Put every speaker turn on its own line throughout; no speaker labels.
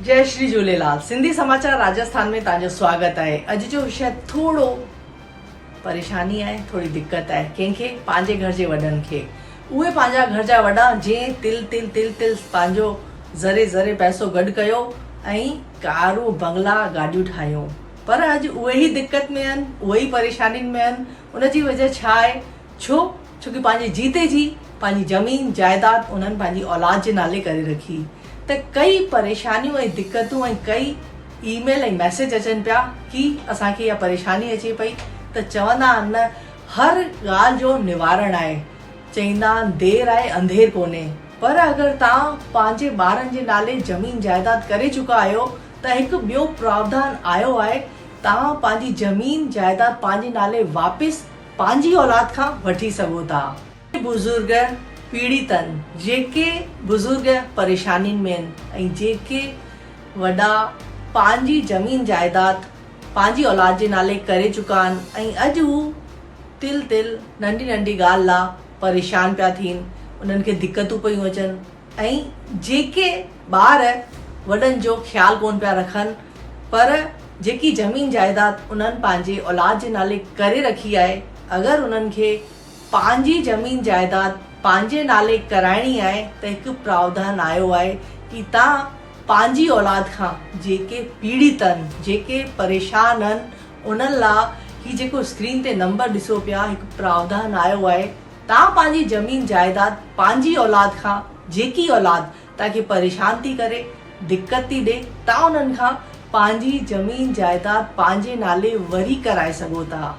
جئي شري جهوليلال سنڌي سماچار راجسٿان ۾ توهان جو سواگت آهي اڄ جو وشي ٿورو پريشاني آهي ٿوري دقت آهي ڪنهن کي پنهنجي گهر جي وڏن کي اهي پنهنجا گهر جا وڏا جنهن تل تل تل تل پنهنجو ذري ذري پئسو گڏ ڪيو ۽ ڪارون بنگلا گاڏيون ٺاهيون پر اڄ اهي ئي دقت ۾ آهن، اهي ئي پريشانين ۾ آهن، ان جي وجهه ڇا آهي؟ ڇو؟ ڇو ڪي پنهنجي جيتي جي پنهنجي زمين جائداد انهن پنهنجي اولاد جي نالي ڪري رکي ته ڪئي پريشانيون ۽ دقتون ۽ ڪئي اي ميل ۽ ميسيج اچن پيا ڪي اسان کي اها پريشاني اچي پئي ته چوندا آهن نه هر ڳالهه جو نوارڻ آهي چئيندا آهن دير آهي انڌير ڪونهي پر اگر توهان پنهنجي ٻارن جي نالي زمين جائداد ڪري چڪا آهيو ته هڪ ٻيو پراوڌان آيو آهي توهان پنهنجي زمين جائيداد پنهنجي نالي واپس پنهنجي اولاد کان وٺي سگهو ٿا. اهي بزرگ پيڙيت آهن جيڪي بزرگ پريشانين ۾ آهن ۽ جيڪي وڏا پنهنجي زمين جائيداد پنهنجي اولاد جي نالي ڪري چڪا آهن ۽ اڄ هو تل تل ننڍي ننڍي ڳالهه لا پريشان پيا ٿين انهن کي دقتون پيون اچن. ۽ جيڪي ٻار وڏن جو خيال ڪون پيا رکن پر جيڪي زمين جائداد انهن پنهنجي اولاد جي نالي ڪري رکي آهي اگر انهن کي پنهنجي زمين جائداد پنهنجي نالي ڪرائڻي آهي ته هڪ پراوڌان آيو آهي ڪي تان پنهنجي اولاد کان جيڪي پيڙيت آهن جيڪي پريشان آهن انهن لا هي جيڪو اسڪرين تي نمبر ڏسو پيا هڪ پراوڌان آيو آهي تان پنهنجي زمين جائيداد پنهنجي اولاد کان جيڪي اولاد تان کي پريشان ٿي ڪري دقت ٿي ڏي تان انهن کان پنهنجي زمين جائيداد پنهنجي نالي وري ڪرائي سگهو ٿا.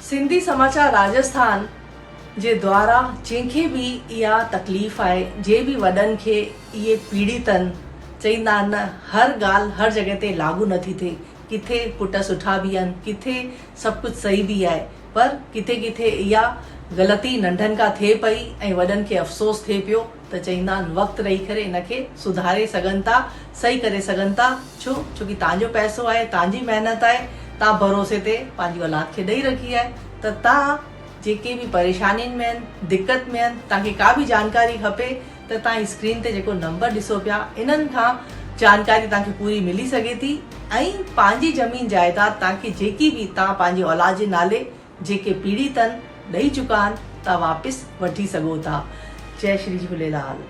سنڌي سماچار راجسٿان جي دوارا جنهن کي به اها تڪليف آهي جنهن به وڏن کي اهي پيڙيتن چئيندا آهن نه هر ڳالهه هر جڳهه تي لاڳو نه ٿي ٿئي ڪٿي پٽ سٺا به آهن ڪٿي سڀ ڪجهه صحيح به آهي پر ڪٿي ڪٿي اها غلطي ننڍن کان ٿئي پئي ۽ وڏن کي افسوس ٿئي پيو ته چئيندا آهن وقت رهي ڪري ان کي سڌاري سگهن ٿا صحيح ڪري سگهن ٿا ڇو ڇوڪي تان جو پئسو آهي تان جي محنت آهي تان ڀروسي تي پنهنجي اولاد کي ڏئي رکي آهي ته تان جيڪي به پريشانين ۾ آهن دقت ۾ آهن تان کي ڪا به جانڪاري کپي ته توهان اسڪرين تي جيڪو نمبر ڏسو پيا انهن کان جانڪاري توهان کي پوري ملي سگهي ٿي ۽ پنهنجي زمين جائيداد توهان کي جيڪي به توهان پنهنجي اولاد جي نالي جيڪي پيڙهي تن ڏئي چڪا آهن توهان واپس وٺي سگهو ٿا جئي شري جهوليلال.